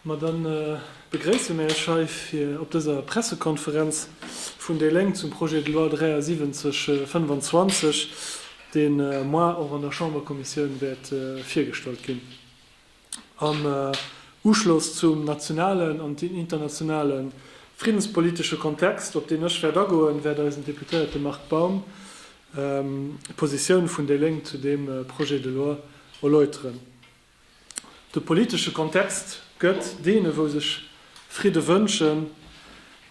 Ma da begréisse mir Iech hei op dëser Pressekonferenz vun déi Lénk zum Projet de loi 7325, dee moar och an der Chamberkommissioun wäert virgestallt ginn, am Uschloss zum nationalen an internationale friddenspolitesche Kontext, op deen ech wäert agoen, wäert eisen Deputéierte Marc Baum d'Positioun vun déi Lénk zu deem Projet de loi erläuteren. De politesche Kontext gëtt deene wou sech Fridde wënschen,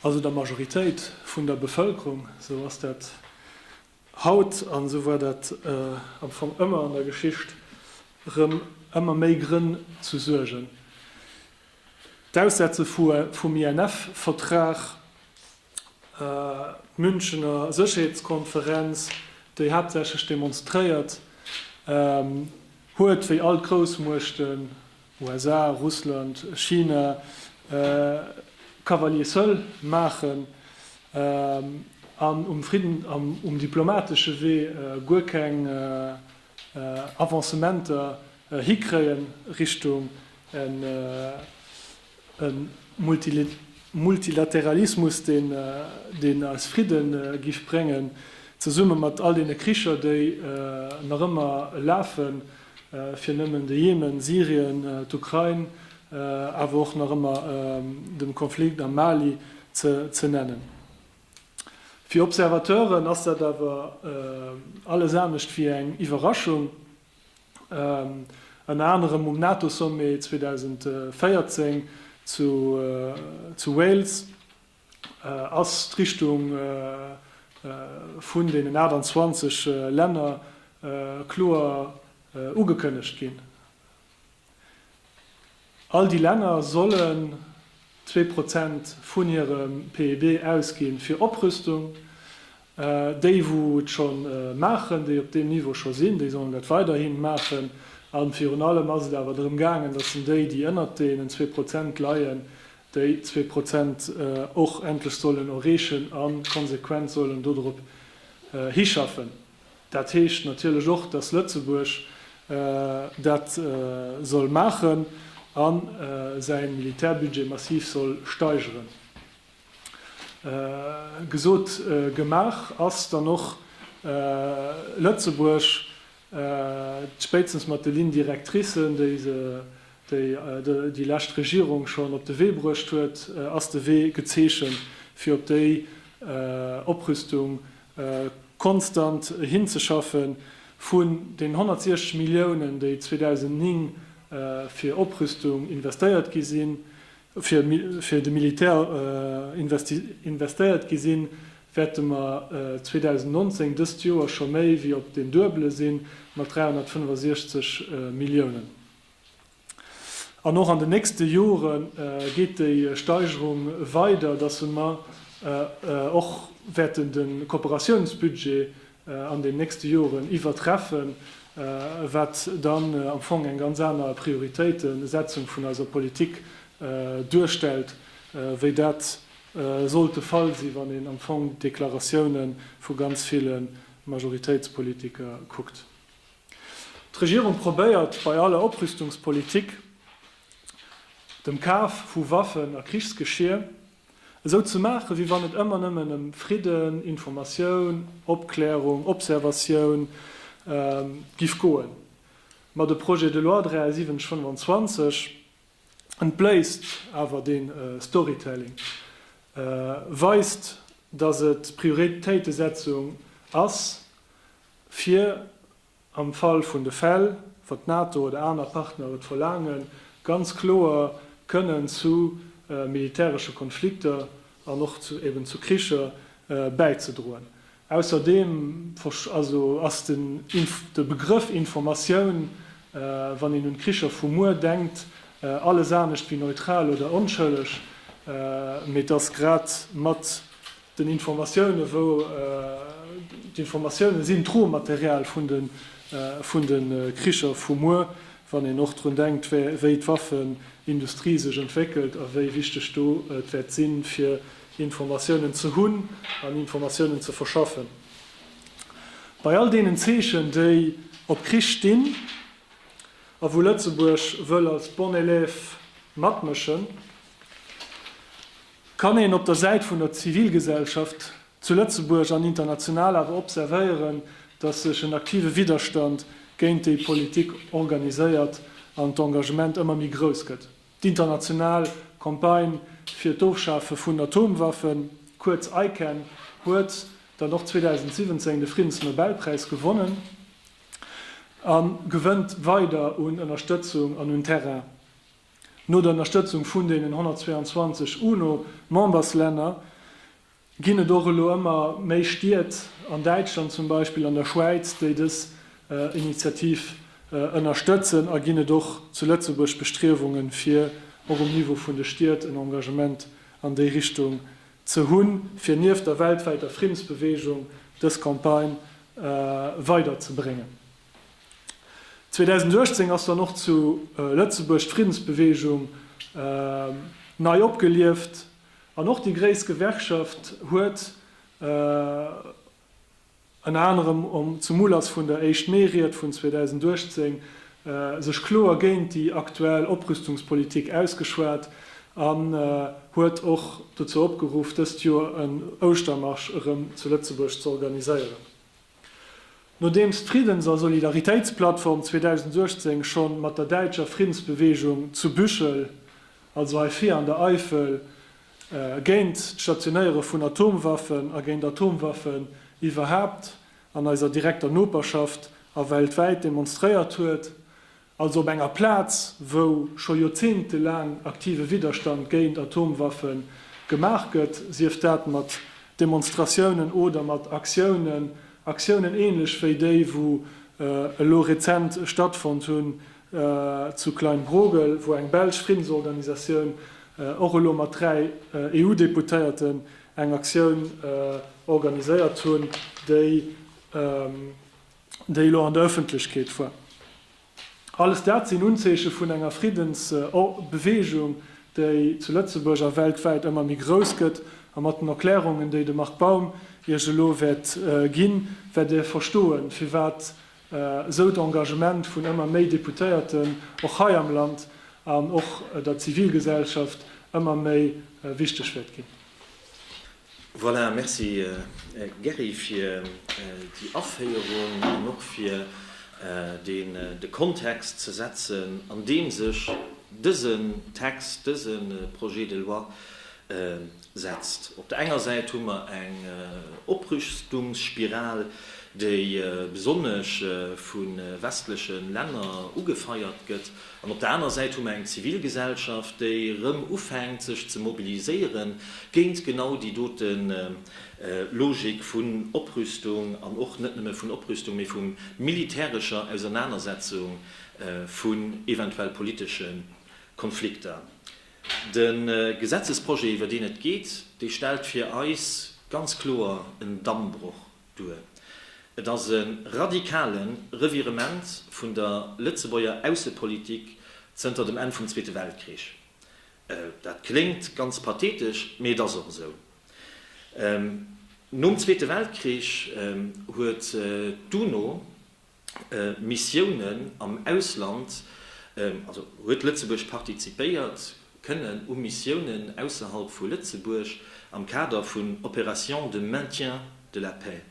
also der Majoritéit vun der Bevëlkerung, esou ass dat haut an esou war dat am Fong ëmmer an der Geschicht, erëm ëmmer méi Grënn zu Suergen. D'Aussetze vum INF-Vertrag D'Münchener Sécherheetskonferenz, déi haaptsächlech demonstréiert huet, wéi all d'Groussmuechten, USA, Russland, China, Cavalier seul maachen an um diplomatesche Wee guer keng Avancementer hikréien Richtung e Multilateralismus, deen eis Fridde giff bréngen, zesumme mat all deene Kricher, déi nach ëmmer lafen, fir nëmmen de Jemen, Syrien, d'Ukrain, awer och nach ëmmer de Konflikt am Mali ze nennen. Fir Observateuren ass dat awer alles anescht wéi eng Iwwerraschung. Ënner anerem um NATO-Sommet 2014 zu Wales ass d'Richtung vun deenen 28 Länner kloer ugekënnegt ginn. All déi Länner sollen zwee Prozent vun hirem PIB ausginn fir Oprüstung. Déi wou et scho maachen, déi op deem Niveau scho sinn, déi sollen dat weiderhi maachen. A virun allem ass et awer drëm gaangen, datt en déi, déi ënnert deenen zwee Prozent leien, déi zwee Prozent och endlech sollen erreechen a konsequent sollen dodrop hischaffen. Dat heescht natierlech och, dass Lëtzebuerg dat soll maachen a säi Militärbudget massiv soll steigeren. Gesot, gemaach ass dann och. Lëtzebuerg, spéitstens mat de Lignes directricen, déi se déi lescht Regierung schonn op de Wee bruecht huet, ass de Wee gezeechent, fir op déi Oprüstung konstant hinzeschaffen, vun den 160 Milliounen, déi 2009 fir Oprüstung investéiert gi sinn, fir de Militär investéiert gi sinn, wäerte mer 2019, dëst Joer, scho méi wéi op den Duebele si mat 365 Milliounen. An och an den nächste Jore geet déi Steigerung weider, dass mer och wäerten de Kooperatiounsbudget an den nächste Joren iwwertreffen, wat dann am Fong eng ganz aner Prioritéitesetzung vun eiser Politik duerstellt, wéi dat sollt de Fall sinn, wann een am Fong d'Deklaratiounen vu ganz ville Majoritéitspolitiker kuckt. D'Regierung probéiert bei aller Oprüstungspolitik, dem Kaf vu Waffen a Krichsgeschier, esou ze maachen, wéi wann et ëmmer nëmmen ëm Fridden, Informatioun, Opklärung, Observatioun giff goen. Ma de Projet de loi 7325 entbléisst awer dee Storytelling, weist, datt et d'Prioritéitesetzung ass, fir, am Fall vun de Fäll, wa d'NATO oder aner Partner et verlaangen, ganz kloer kënnen zu militäresche Konflikter an och zu eben zu Kricher bäizedroen. Ausserdeem verst, also ass den, de Begrëff Informatioun, wann een un d'Kricher vu muer denkt, alles anescht wéi neutral oder onschëlleg, mee dass grad mat den Informatiounen, wou d'Informatiounen sinn d'Rohmaterial vun de Kricher vu muer, wann een och drun denkt, wéi d'Waffenindustrie sech entwéckelt a wéi wichteg do et wäert sinn, fir Informatiounen ze hunn an Informatiounen ze verschaffen. Bei all deenen Zeechen, déi op Krich stinn a wou Lëtzebuerg wëll als bon élève matmëschen, Kann een op der Säit vun der Zivilgesellschaft zu Lëtzebuerg an international awer observéieren, datt sech en aktive Widderstand géint déi Politik organiséiert an d'Engagement ëmmer méi grouss gëtt. D'International Campagne fir d'Ofschafe vun Atomwaffen, kuerz ICAN, huet dann och 2017 de Friddensnobelpräis gewonnen a gewënnt weider un Ënnerstëtzung an un Terrain. No der Ënnerstëtzung vun deenen 122 UNO-Memberslänner ginn et och elo ëmmer méi Stied, an Däitschland zum Beispill, an der Schwäiz, déi dës Initiativ ënnerstëtzen a ginn et och zu Lëtzebuerg Bestriewungen, fir och um Niveau vun de Stied en Engagement an déi Richtung ze hunn, fir nieft der weltwäiter Friddensbewegung dës Campagne weiderzebréngen. 2018 ass dann och zu Lëtzebuerg d'Friddensbeweegung nei opgelieft an och déi gréisst Gewerkschaft huet ënner anerem zum Ulass vun der Éischt Mee-Ried vun 2018 sech kloer géint déi aktuell Oprüstungspolitik ausgeschwat an huet och dozou opgeruff, dëst Joer en Ouschtermarsch erëm zu Lëtzebuerg z'organiséieren. Nodeems d'Friddens a Solidaritéitsplattform 2018 schonn mat der däitscher Friddensbeweegung zu Büchel, also hei vir an der Eifel, géint d'Stationéiere vun Atomwaffen a géint Atomwaffen iwwerhaapt an eiser direkter Noperschaft a weltwäit demonstréiert huet, also op enger Plaz, wou scho joerzéngtelaang aktive Widderstand géint Atomwaffe gemaach gëtt, sief dat mat Demonstratiounen oder mat Aktiounen, Aktiounen ähnlech wéi déi, wou elo rezent stattfonnt hunn zu Kleinbrogel, wou eng belsch Friddensorganisatioun och elo mat dräi EU-Deputéierten eng Aktioun organiséiert hunn, déi. déi elo an der Ëffentlechkeet war. Alles dat sinn Unzeeche vun enger Friddensbeweegung, déi zu Lëtzebuerg a weltwäit ëmmer méi grouss gëtt. A mat den Erklärungen, déi de Marc Baum Iech elo wäert ginn, wäert Der verstoen, firwat esou d'Engagement vun ëmmer méi Deputéierten, och hei am Land, an och der Zivilgesellschaft ëmmer méi wichteg wäert ginn. Voilà, merci Gerry fir déi Aféierung an och fir deen de Kontext ze setzen an deem sech dësen Text, dëse Projet de loi setzt. Op der enger Säit hu mer eng Oprüstungsspiral, déi besonnesch vu westleche Länner ugefeiert gëtt, An op der aner Säit hu mer eng Zivilgesellschaft, déi erëm ufänkt sech ze mobiliséiere géint genau déi dote Logik vun Oprüstung an och net nëmme vun Oprüstung, mee vu militärescher Ausernanersetzung, vun eventuell politesche Konflikter. De Gesetzesprojet, iwwer deen et geet, dee stellt fir eis ganz kloer en Dammbroch duer. Et ass e radikale Revirement vun der Lëtzebuerger Aussepolitik zënter dem Enn vum Zweete Weltkrich. Dat kléngt ganz pathetesch, mee et ass och esou. Nom Zweete Weltkrich huet d'UNO Missiounen am Ausland, also huet Lëtzebuerg partizipéiert, kënnen u Missiounen ausserhalb vu Lëtzebuerg am Kader vun Opérations de maintien de la paix.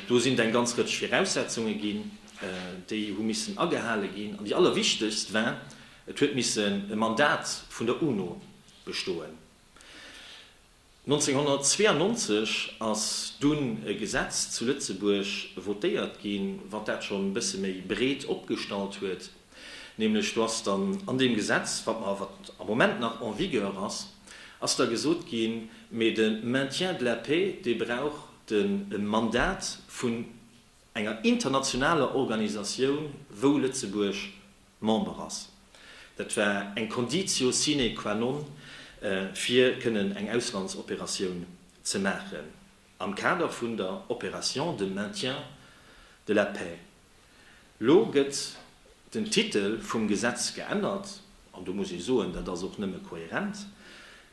Do sinn et eng ganz Rëtsch Viraussetzunge ginn, déi hu missen agehale ginn. An déi allerwichtegst war, et huet missen e Mandat vun der UNO bestoen. 1992 ass dunn e Gesetz zu Lëtzebuerg votéiert ginn, wat dat schonn e bësse méi breet opgestallt huet. Nämlech do ass dann an deem Gesetz, wat mer, wat am Moment nach en vigueur ass, ass da gesot ginn, mee de Maintien de la paix, dee brauch den e Mandat vun enger internationaler Organisatioun, wou Lëtzebuerg Member ass. Dat war eng Conditio sine qua non, fir kënnen eng Auslandsoperatioun ze maachen am Kader vun der Opération de maintien de la paix. Lo gëtt den Titel vum Gesetz geännert, an do muss ee soen, dat ass och nëmme kohärent,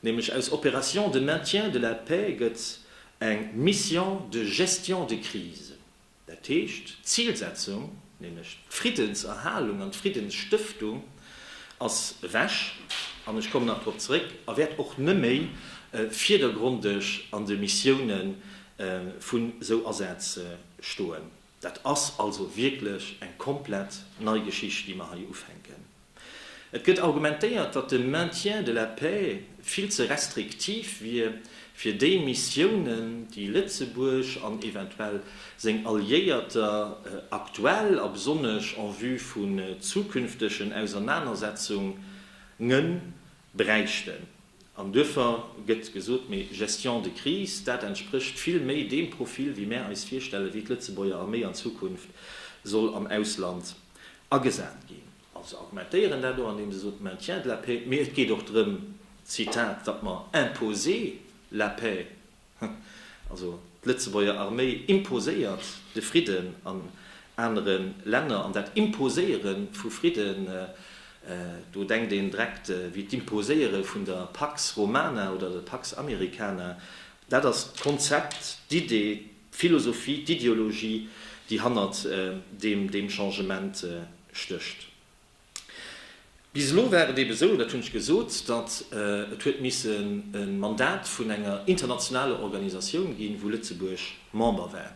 nämlech aus Opération de maintien de la paix gëtt eng Mission de gestion de crise. Dat heescht, d'Zilsetzung, nämlech d'Friddenserhalung an d'Friddensstëftung ass ewech, an ech kommen nach drop zeréck, a wäert och neméi virdergrondeg an de Missioune vun esou Asäz stoen. Dat ass also wierklech eng komplett nei Geschicht, déi mer hei ufänken. Et gëtt argumentéiert, datt de Maintien de la paix vill ze restriktiv wier fir déi Missiounen, déi Lëtzebuerg an eventuell seng Alliéierter aktuell a besonnesch en vue vun zukünftegen Ausernanersetzungen bräichten. An duerfir gëtt gesot, méi Gestion de crise, dat entsprécht vill méi deem Profil, wéi mär eis virstellen, wéi d'Lëtzebuerger Arméi an Zukunft soll am Ausland agesat ginn. Also se argumentéieren dat och, andeem se soen, maintien de la paix, mee et geet och drëm, Zitat, datt mer imposer la paix. Also d'Lëtzebuerger Arméi imposéiert de Fridden an anere Länner, an dat Imposéiere vu Fridden, do denkt een dreckt wéi d'Imposéiere vun der Pax Romana oder der Pax Americana, dat ass d'Konzept, d'Idee, d'Philosophie, d'Ideologie, déi hannert deem Changement stécht. Bis elo war et ebe sou, dat hunn ech gesot, datt et huet missen e Mandat vun enger internationaler Organisatioun ginn, wou Lëtzebuerg Member war.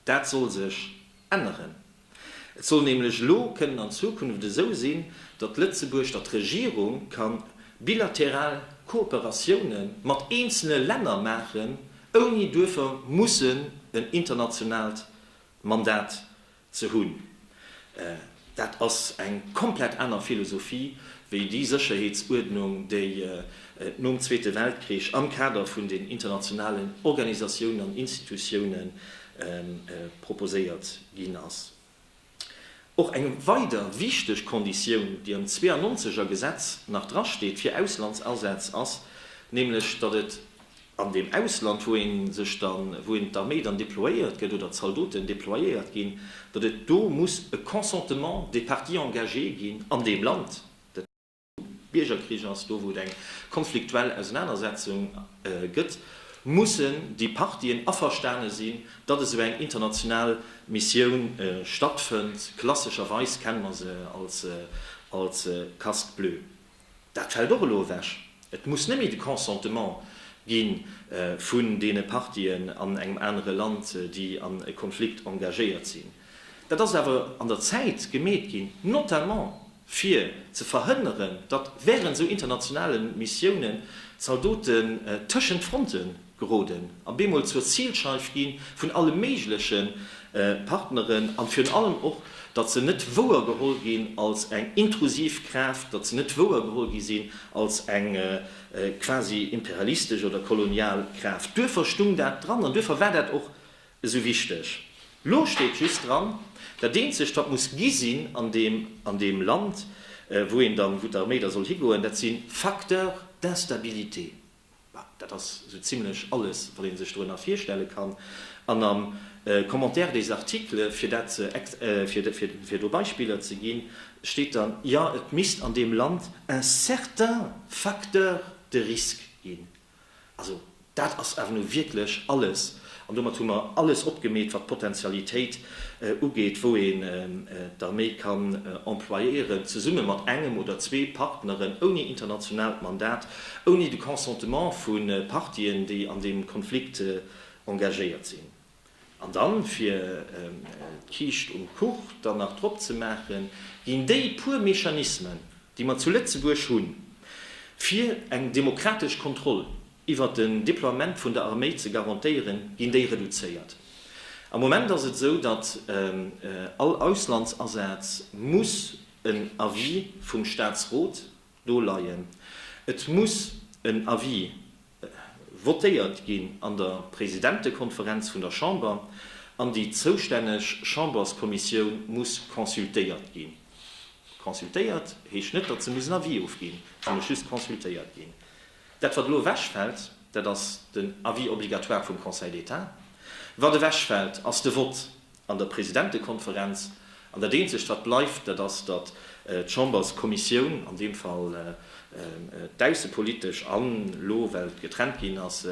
Dat soll sech änneren. Et soll nämlech elo kënnen an Zukunft esou sinn, datt Lëtzebuerg, datt d'Regierung ka bilateral Kooperatioune mat eenzele Länner maachen, ouni duerfir mussen en internationaalt Mandat Ze hunn. Dat ass eng komplett aner Philosophie wéi déi Sécherheetsuerdnung, déi et nom Zweete Weltkrich am Kader vun den internationalen Organisatiounen an Institutioune proposéiert ginn ass. Och eng weider wichteg Konditioun, déi am 92 er Gesetz nach drasteet fir Auslandsasätz, ass nämlech, datt et An deem Ausland, wou een sech dann, wou een d'Arméi dann déployéiert gëtt oder d'Zaldoten déployéiert ginn, datt et do muss e Consentement des parties engagées ginn an deem Land, dat heescht, do wou Biergerkrich ass, do wou et eng konfliktuell Ausenanersetzung gëtt, mussen déi Partien averstane sinn, datt esou eng international Missioun stattfënnt. Klassescherweis kenne mer se als casque bleu. Dat fält och elo ewech. Et muss net méi de Consentement gi vun deene Partien an engem anere Land, déi an e Konflikt engagéiert sinn. Dat ass awer an der Zäit gemeet ginn, notamment fir ze verhënneren, datt wärend esou internationale Missiounen d'Zaldoten tëschent d'Fronte Geroden an bemol zur Zilscheif ginn vun alle méigleche Partneren an virun allem och, datt se net wouer geholl ginn als eng intrusiv Kraaft, datt se net wouer geholl gi sinn als eng quasi imperialistesch oder kolonial Kraaft. Duerffer stung dat dran an duerffer war dat och esou wichteg. Lo steet just dran, dat eenzegt wat muss gi sinn an deem an deem Land, wou een dann, wou d'Arméi da soll higoen, dat si Facteurs d'instabilité. Dat ass sou zimlech alles, wat ee sech dorënner virstelle kann. An am Commentaire des articles, fir dat ze, fir do Beispiller ze ginn, steet dann, jo, et misst an deem Land un certain facteur de risque ginn. Also dat ass awer nu wierklech alles. An domat hu mer alles opgemeet, wat d'Potentialitéit ugeet, wou een d'Arméi kann employéieren, zesumme mat engem oder zwee Partneren, ouni internationaalt Mandat, ouni de Consentement vu Partien, déi an deem Konflikt engagéiert sinn. An dann, fir d'Kiischt um Kuch dann nach drop ze maachen, ginn déi puer Mechanismen, déi mer zu Lëtzebuerg hunn, fir eng demokratesch Kontroll iwwert den Deploiement vun der Arméi ze garantéieren, ginn déi reduzéiert. Am Moment ass et esou, datt all Auslandsasaz muss en Avis vum Staatsrot do leien. Et muss en Avis votéiert ginn an der Presidentekonferenz vun der Chamber an déi zoustänneg Chamberskommissioun muss consultéiert ginn. Consultéiert heescht net, datt se muss en Avis ofginn, se muss just consultéiert ginn. Dat wat elo ewechfält, dat ass den Avis obligatoire vum Conseil d'État. Wat ewechfält, ass de Vott an der Presidentekonferenz. An dat eenzegt wat bleift, dat ass, datt d'Chamberskommissioun, an deem Fall d'aussepolitesch an elo, well et getrennt ginn ass,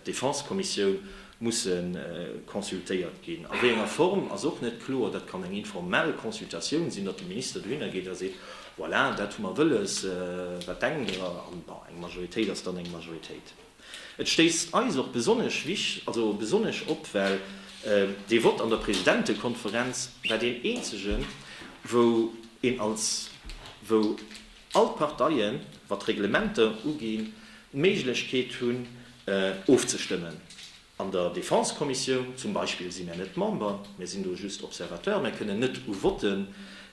d'Defensekommissioun, musse consultéiert ginn. A wéi enger Form, ass och net kloer. Dat kann eng informell Consultatioun sinn, datt de Minister dohinner geet a seet, voilà, dat hu mer wëlles, wat denkt Der? An bon, eng Majoritéit ass dann eng Majoritéit. Et stéisst eis och besonnesch wich-, also besonnesch op, well dee Vott an der Presidentekonferenz war deen eenzegen, wou een als, wou All d'Parteien, wat d'Reglementer uginn, d'Méiglechkeet hunn, ofzestëmmen. An der Defense-Kommissioun zum Beispill si mär net Member, mär sinn do just Observateur, mär kënnen net u Votten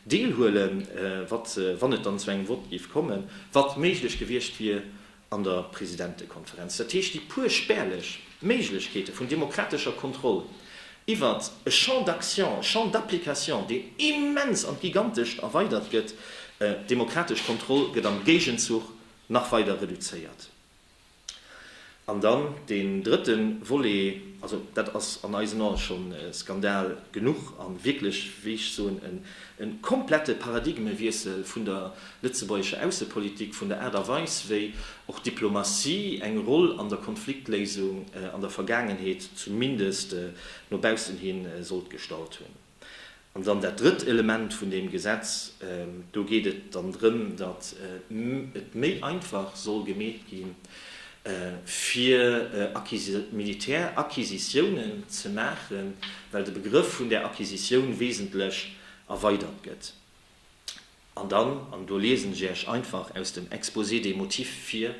deelhuelen, wat, wann et dann zu engem Vott géif kommen, wat méiglech gewiescht wier, an der Presidentekonferenz. Dat heescht, déi puer spärlech Méiglechkeete vun demokratescher Kontroll iwwert e Champ d'action, e Champ d'application, deen immens an d'Gigantescht erweidert gëtt, d'demokratesch Kontroll gëtt am Géigenzuch nach weider reduzéiert. An dann deen drëtte Volet, also dat ass an eisen Ae scho Skandal genuch a wierklech, wéi ech soen, e komplette Paradigmewiessel vun der lëtzebuergescher Aussepolitik vun der Aart a Weis, wéi och d'Diplomatie eng Roll an der Konfliktléisung an der Vergaangenheet zumindest no baussen hi sollt gestallt hunn. An dann dat drëtt Element vun deem Gesetz, do geet et dann drëm, datt et méi einfach soll gemeet gi fir Militäracquisitiounen ze maachen, well de Begrëff vun där Acquisitioun wesentlech erweidert gëtt. An dann, an do liesen ech Iech einfach aus dem Exposé des motifs vir,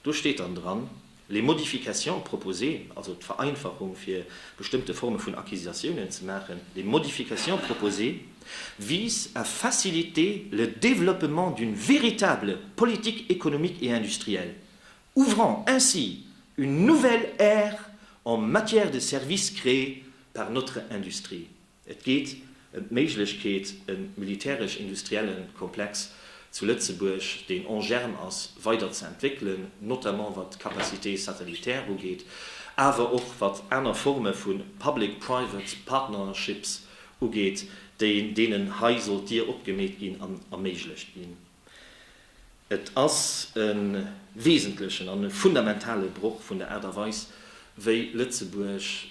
do steet dann dran, Les modifications proposées, also d'Vereinfachung fir bestëmmte Forme vun Acquisitiounen ze maachen, les modifications proposées visent à faciliter le développement d'une véritable politique économique et industrielle, ouvrant ainsi une nouvelle ère en matière de services créés par notre industrie. Et geet ëm d'Méiglechkeet, e militäresch-industriellen Komplex zu Lëtzebuerg, deen en germe ass, weider ze entwéckelen, notamment wat d'Capacité satellitaire ugeet, awer och wat aner Forme vu public-private partnerships ugeet, déi deenen hei sollt d'Dier opgemeet ginn an erméiglecht ginn. Et ass e wesentlechen an e fundamentale Broch vun der Aart a Weis, wéi Lëtzebuerg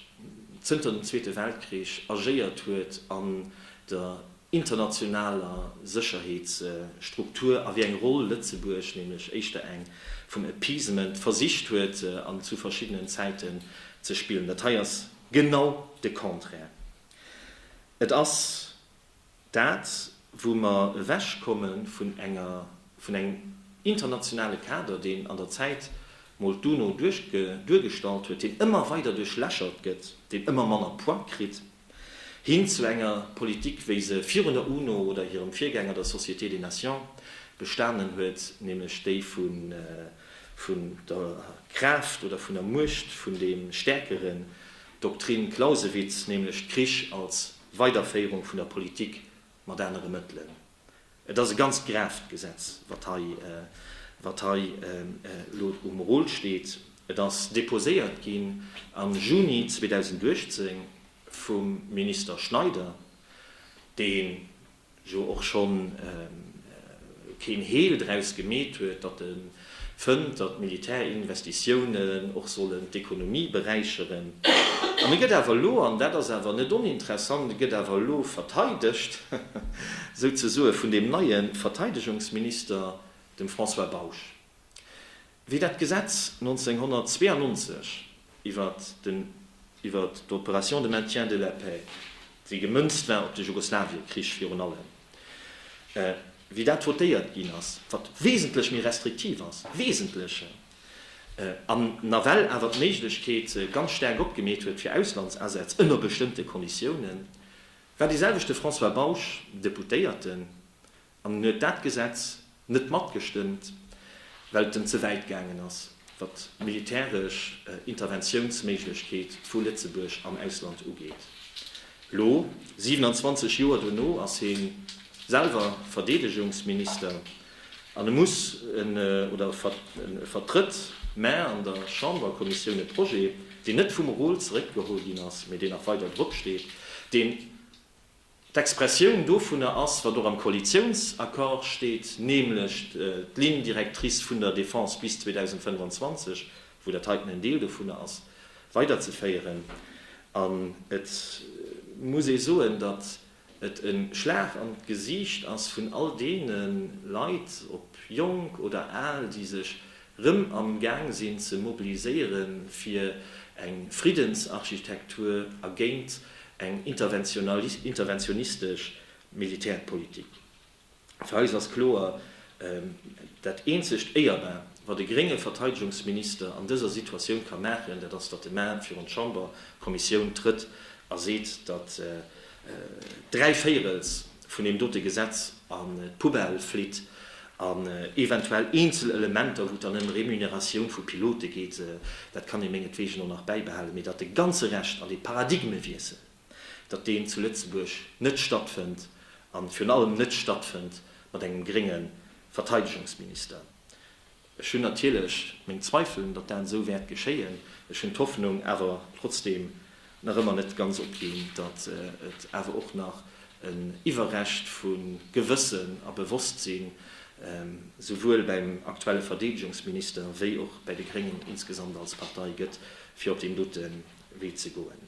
zënter dem Zweete Weltkrich agéiert huet an der internationaler Sécherheetsstruktur a wéi eng Roll Lëtzebuerg, nämlech éischter eng vum Appeasement, versicht huet an zu verschiddenen Zäiten ze spillen. Dat hei ass genau de Contraire. Et ass. Dat, wou mer ewechkomme vun enger, vun engem internationale Kader, deen an der Zäit mol d'UNO duerchge, duergestallt huet, deen ëmmer weider duerchlächert gëtt, deen ëmmer manner Poids kritt, hin zu enger Politik, wéi se virun der UNO oder hirem Virgänger, der Société des Nations, bestanen huet, nämlech déi vu, vun der Kraaft oder vun der Muecht vun deem Stäerkeren, d'Doktrin Clausewitz, nämlech Krich als Weiderféierung vun der Politik mat anere Mëttelen. Et ass e ganz gravt Gesetz, wat hei, wat hei elo um Rôle steet. Et ass déposéiert ginn am Juni 2018 vum Minister Schneider, dee jo och schonn keen Heel draus gemeet huet, datt e fënnt, datt Militärinvestitiounen och sollen d'Ekonomie beräicheren. An e gëtt awer elo, an dat ass awer net oninteressant, e gëtt awer elo verteidegt, souzesoe vun deem neie Verteidegungsminister, dem François Bausch. Wéi dat Gesetz 1992 iwwert den iwwert d'Opération de maintien de la paix, déi gemënzt war op de Jugoslawie-Krich virun allem, wéi dat votéiert ginn ass, wat wesentlech méi restriktiv ass, wesentleche, an nawell awer d'Méiglechkeet ganz staark opgemeet huet fir Auslandsasätz ënner bestëmmte Konditiounen, war deeselwechte François Bausch Deputéierten An en huet dat Gesetz net matgestëmmt, well et en ze wäit gaangen ass, wat d'militäresch Interventiounsméiglechkeet vu Lëtzebuerg am Ausland ugeet. Elo, 27 Joer dono, ass hie selwer Verdeedegungsminister an e muss en, oder e vertrëtt, mä an der Chamberkommissioun e Projet, deen net vum Rôle zeréckgeholl ginn ass, mä deen nach weider dropsteet, deen, D'Expressioun dovunner ass, wat och am Koalitiounsaccord steet, nämlech d'Ligne directrice vun der Defense bis 2025, wou dat heiten en Deel dovunner ass, weiderzeféieren. An et muss ee soen, datt et e Schlag an d'Gesiicht ass vun all deene Leit, ob jonk oder al, déi sech rëm am Gaang sinn ze mobiliséiere fir eng Friddensarchitektur a géint eng interventionistesch Militärpolitik. Fir eis ass kloer, Dat eenzegt Éierbar, wat e grénge Verteidegungsminister an dëser Situatioun ka maachen, dat ass, datt e Main virun d'Chamberkommissioun trëtt a seet, datt Dräi Véirels vun deem dote Gesetz an d'Poubelle flitt an eventuell eenzel Elementer, wou et dann ëm Remuneratioun vu Pilote geet, dat kann ee mengetweegen och nach bäibehalen, mee datt de ganze Rescht an dee Paradigmewiessel, datt deen zu Lëtzebuerg net stattfënnt an virun allem net stattfënnt mat engem grénge Verteidegungsminister. Ech hunn natierlech meng Zweifelen, datt dat esou wäert geschéien. Ech hunn d'Hoffnung awer trotzdeem nach ëmmer net ganz opginn, datt et awer och nach en Iwwerrescht vu Gewëssen a Bewosstsinn souwuel beim aktuelle Verdeedegungsminister wéi och bei de Gréngen insgesamt als Partei gëtt, fir op deen dote Wee ze goen.